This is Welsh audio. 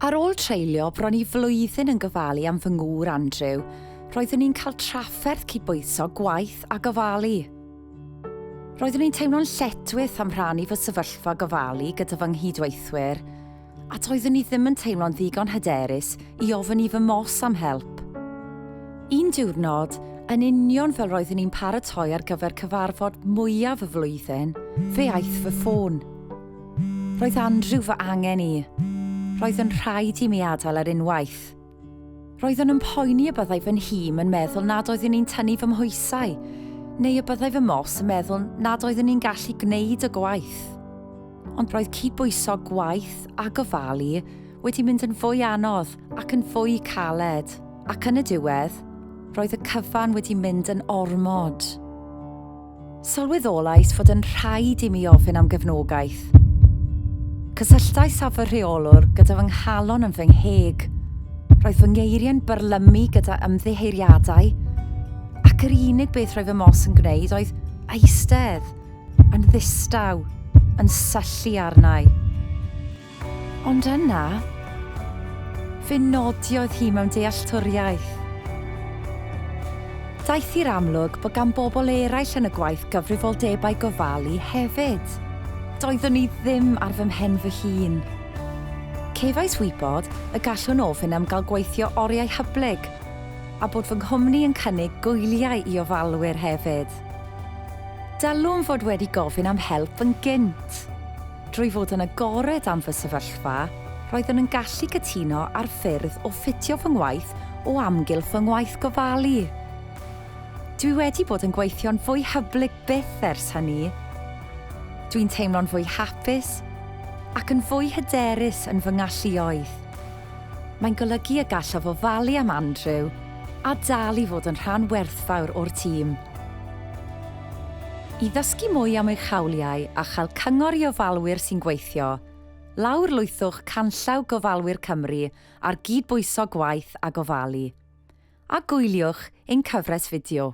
Ar ôl treulio bron i flwyddyn yn gofalu am fy ngŵr Andrew, roeddwn i'n cael trafferth cydbwyso gwaith a gofalu. Roeddwn i'n teimlo'n lletchwith am rhannu fy sefyllfa gofalu gyda fy nghydweithwyr, a doeddwn i ddim yn teimlo'n ddigon hyderus i ofyn i fy mos am help. Un diwrnod, yn union fel roeddwn i'n paratoi ar gyfer cyfarfod mwyaf y flwyddyn, fe aeth fy ffôn. Roedd Andrew fy angen i. Roedd yn rhaid i mi adael ar unwaith. Roeddwn yn poeni y byddai fy nhîm yn meddwl nad oeddwn i'n tynnu fy mhoesau, neu y byddai fy mos yn meddwl nad oeddwn i'n gallu gwneud y gwaith. Ond roedd cydbwyso gwaith a gofalu wedi mynd yn fwy anodd ac yn fwy caled, ac yn y diwedd, roedd y cyfan wedi mynd yn ormod. Sylweddolais fod yn rhaid i mi ofyn am gefnogaeth. Cysylltais â fy rheolwr gyda fy nghalon yn fy ngheg. Roedd fy ngeiriau'n byrlymu gyda ymddiheuriadau, ac yr unig beth roedd fy mos yn gwneud oedd eistedd yn ddistaw, yn syllu arna i. Ond yna, fe nodiodd hi mewn dealltwriaeth. Daeth i'r amlwg bod gan bobl eraill yn y gwaith gyfrifoldebau gofalu hefyd. Doeddwn i ddim ar fy mhen fy hun. Cefais wybod y gallwn ofyn am gael gweithio oriau hyblyg a bod fy nghwmni yn cynnig gwyliau i ofalwyr hefyd. Dylwn fod wedi gofyn am help yn gynt. Drwy fod yn agored am fy sefyllfa, roeddwn yn gallu cytuno ar ffyrdd o ffitio fy ngwaith o amgylch fy ngwaith gofalu. Dwi wedi bod yn gweithio'n fwy hyblyg byth ers hynny. Dwi'n teimlo'n fwy hapus ac yn fwy hyderus yn fy ngalluoedd. Mae'n golygu y gallaf ofalu am Andrew a dal i fod yn rhan werthfawr o'r tîm. I ddysgu mwy am eich hawliau a chael cyngor i ofalwyr sy'n gweithio, lawrlwythwch canllaw Gofalwyr Cymru ar gydbwyso gwaith a gofalu, a gwyliwch ein cyfres fideo.